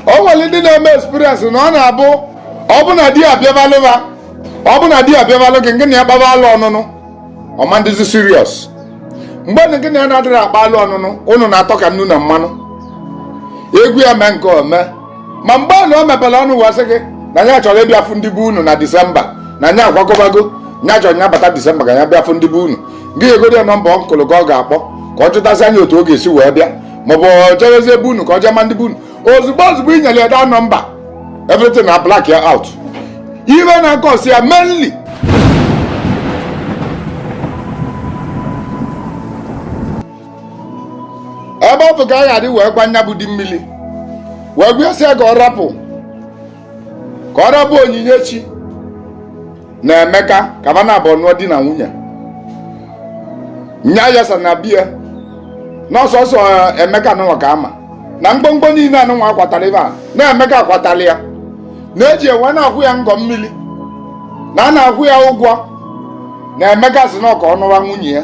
o nwere ndị na-eme experience na ọ na-abụ ọ bụ na di abịabalụ ha ọ bụ na di abịabalụ gị gị na ya gbaba alụ ọnụnụ ọ ma na-adịzi serious mgbe na gị na ya na-adịrị akpa alụ ọnụnụ ụnụ na-atọ ka nnu na mmanụ egwu ya mee nke ome ma mgbe na o mepere ọnụ wee sị gị na ya chọrọ ịbịa fụ ndị be unu na disemba na nya agwagobago nya chọrọ ya bata disemba ka ya bịa fụ ndị be unu gị egoro ya nọmba uncle gị ọ ga-akpọ ka ọ jụtasịa nya otu ọ ga-esi wee bịa maọbụ o jezie be unu ka o je maa ndị be unu ozugbo ozugbo i nyere ya that nọmba everything a-black out ife na-akọsi ya mainly ebe ọ bụ ka a ga-adị wee gwa nya bụ di mmiri wee sị ya ka ọ rapụ ka ọ rapụ Onyinyechi na Emeka ka fa naabọ nụọ di na nwunye nya yasa na bie n'ọsọsọ eh, Emeka anụnwa ka a ma na ngwongwo niile anụnwa a kwatara ebe a na Emeka kwatara ya na e ji ya wee na-akwụ ya ngọ mmiri na a na-akwụ ya ụgwọ na Emeka sị na ọ ka ọ nụwa nwunye ya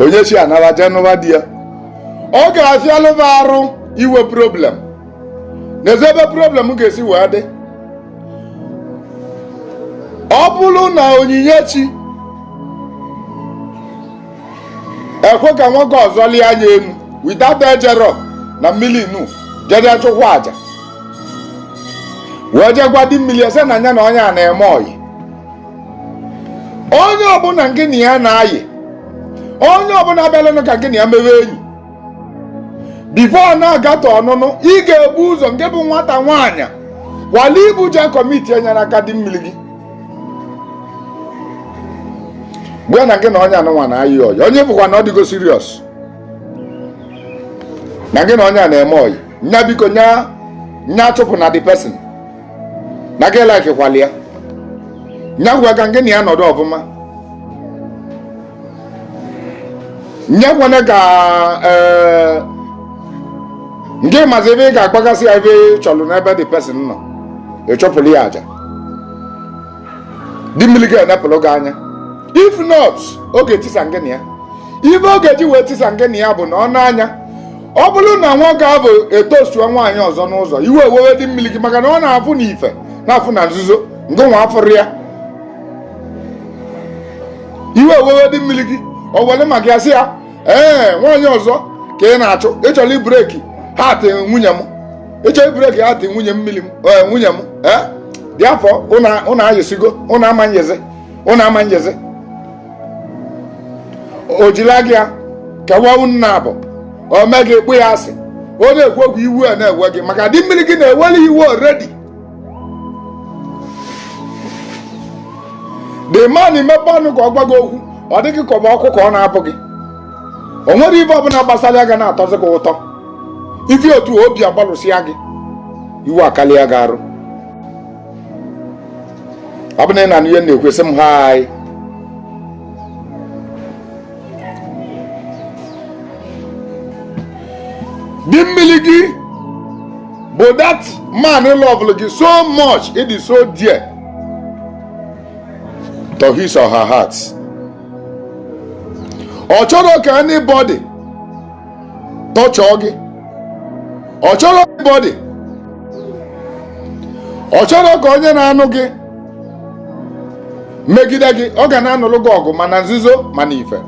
Onyinyechi anara jee na be di ya ọ ga-afịalụ m arụ inwe problem n'ezi ebe problem ga-esi wee dị ọ bụrụ na Onyinyechi ekwe ka nwoke ọzọ lịa nya enu without ejerọ na mmiri inu jee chụkwa aja wee jee gwa di mmiri sị na nya na onye a na-eme ọyị onye ọbụla gị na ya na-ayị onye ọbụla bịalanụ ka gị na ya mewe enyi before ọ na-agata ọnụnụ ị ga-ebu ụzọ ngị bụ nwata nwaanyị wala ibu je commit enyere aka di mmiri gị gwa na gị na onye anụnwa na-ayị ọyị onye bụkwa na ọ dịgo serious na gị na onye a na-eme ọyị nya biko nya nya achụpụna the person na gị likekwalụ ya nya kwe ka gị na ya nọdụ ọfụma nya ekwena ka ee ngị mazi ebe ị ga-agwagasị ya ife ị chọrọ n'ebe the person nọ ị chụpụrụ ya aja di mmiri ga-enepụrụ gị anya if not ọ ga-etisa ngị na ya ife ọ ga-eji wee tisa ngị na ya bụ na ọ na-anya ọ bụrụ na nwoke ahụ etoastuwa nwaanyị ọzọ n'ụzọ iwe ewewe di mmiri gị maka na ọ na-afụ n'ife na-afụ na nzuzo ngịnwa afụrọ ya iwe ewewe di mmiri gị ọ were maka ya sị ya ee nwaanyị ọzọ ka ị na-achụ ị chọrọ ịbreak heart nwunye m ị chọrọ ịbreak heart nwunye mmiri m ee nwunye m ee therefore ụnụ ayịsịgo ụnụ ama ayịzi ụnụ ama ayịzi o jila gị ya kewa unu naabọ o mee gị kpọọ ya asị ọ na-ekwu okwu iwe ana-ewe gị maka di mmiri gị na-ewere iwe already the man mepe ọnụ ka ọ gwa gị okwu ọ dị gị ka ọ bụ ọkụ ka ọ na-abụ gị o nwerọ ife ọbụla gbasara ya ga na-atọzi gị ụtọ ife otu obi agbalụsịa gị iwe akarịa gị arụ ọ bụ na ị na ihe na-ekwesị m ha anyị di mmiri gị bụ that man lọvụlụ gị so much ị dị so dear to his or her heart ọ chọrọ ka anybody tọchọọ gị ọ chọrọ bọdị ọ chọrọ ka onye na-anụ gị megide gị ọ ga na-anụrụ gị ọgụ ma na nzuzo ma n'ife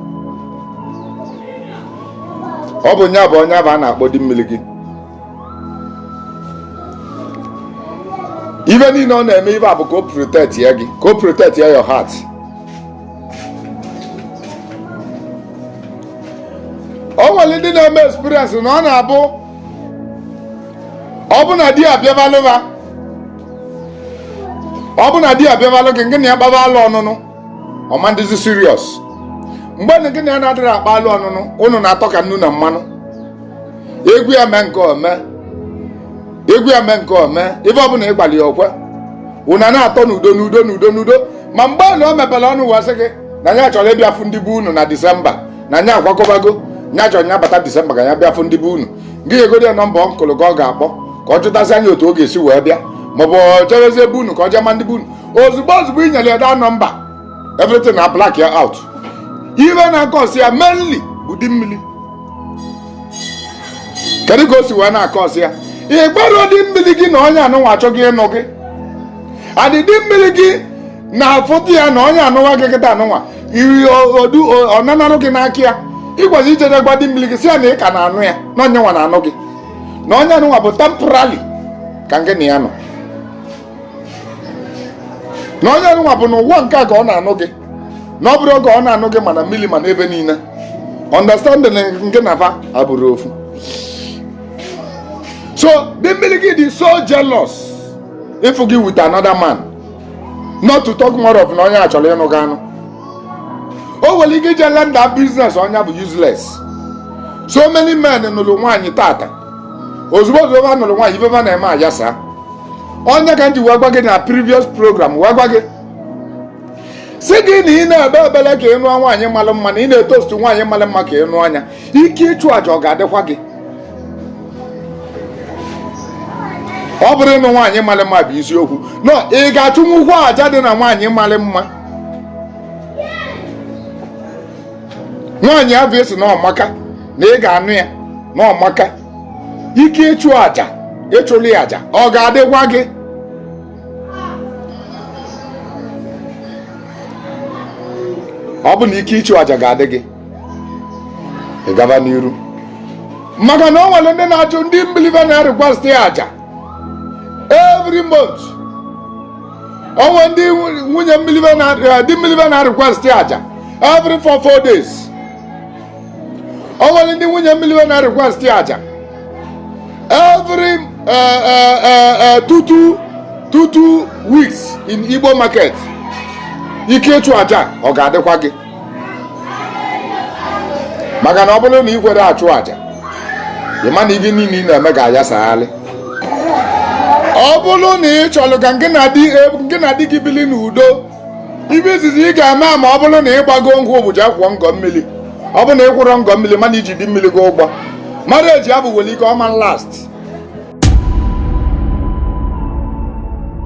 ọ bụ nya bụ onye bụ a na-akpọ di mmiri gị ife niile ọ na-eme ife a bụ ka o protectie gị ka o protectie your heart o nwere ndị na-eme experience na ọ na-abụ ọ bụ na di abịabalụ ha ọ bụ na di abịabalụ gị gị na ya akpaba alo ọnụnụ ọ ma na-adịzi serious mgbe na gị na ya na-adịrọ akpa alo ọnụnụ unu na-atọ ka nnu na mmanụ ị gwa ya mee nke a o mee ị gwa ya mee nke a o mee ife ọbụla ị gwalụ ya o kwe unu na-atọ n'udo n'udo n'udo n'udo ma mgbe ọbụla o mepere ọnụ wee sị gị na ya chọrọ ịbịa fụ ndị be unu na disemba na ya akwakọbago ya chọrọ ya bata disemba ka ya bịa fụ ndị be unu gị nyegodi ya nọmba uncle ka ọ ga-akpọ ka ọ jụtasịa ya otu ọ ga-esi wee bịa maọbụ ọ chọrọzie be unu ka ọ jee ma ndị be unu ozugbo ozugbo i nyere ya that nọmba everything na black ya out ife na-akọsi ya mainly bụ di mmiri kedu ka o si wee na-akọsi ya ị gwara di mmiri gị na onye anụnwa achọgo ịnụ gị a di di mmiri gị na-afụta ya na onye anụnwa gị kịta anụnwa iri odu ọ nanarụ gị n'aka ya ị gwazi ijede gwa di mmiri gị si ya na ị ka na-anụ ya na onye nwa na-anụ gị na onye anụnwa bụ temporary ka gị na ya nọ na onye nwa bụ n'ụwa nke a ka ọ na-anụ gị na ọ bụrọ oge ọ na-anụ gị ma na mmiri ma n'ebe niile understanding nke na fa abụrọ ofu so di mmiri gị dị so jealous ịfụ gị with another man not to talk more of na onye a chọrọ ịnụ gị anụ o nwere ike ije render business onye bụ useless so many men nụrụ nwaanyị tata ozugbo ozugbo ha nụrụ nwaanyị ife ha na-eme ayasa ọ ya ka m ji wee gwa gị na previous program wee gwa gị sị gị na ị na-ebe ebele ka ị nụọ nwaanyị malụ mma na ị na-etostu nwaanyị malụ mma ka ị nụọ ya ike ịchụ àjà ọ ga-adịkwa gị ọ bụrọ ịnụ nwaanyị malụ mma bụ isiokwu ị ga-achụnwukwa àjà dị na nwaanyị malụ mma nwaanyị abụ a sị na ọ maka na ị ga-anụ ya na ọ maka ike ịchụ aja ịchụli aja ọ ga-adịkwa gị ọ bụ na ike ịchụ aja ga-adị gị ị gaba n'iru maka na o nwere ndị na-achụ ndị mmili ve na-request ya aja every month o nwere ndị nwunye mmili ve na eh, di mmili ve na-request ya aja every four four days o nwere ndị nwunye mmili ve na-request ya aja every eh, eh, eh, eh, two two two two weeks in igbo market ike ịchụ aja ọ ga-adịkwa gị maka na ọ bụrụ na ị kwerọ achụ aja ị ma na ihe niile ị na-eme ga-ayasagharị ọ bụrụ na ị chọrọ ka gị na di gị na di gị bili n'udo ive izizi ị ga-eme ma ọ bụrụ na ị gbago nkwụ bụ ije kwụọ ngọ mmili ọ bụrụ na ị kwụrọ ngọ mmili ma na i ji di mmili gị ụgwọ marriage avụ nwere ike ọ ma last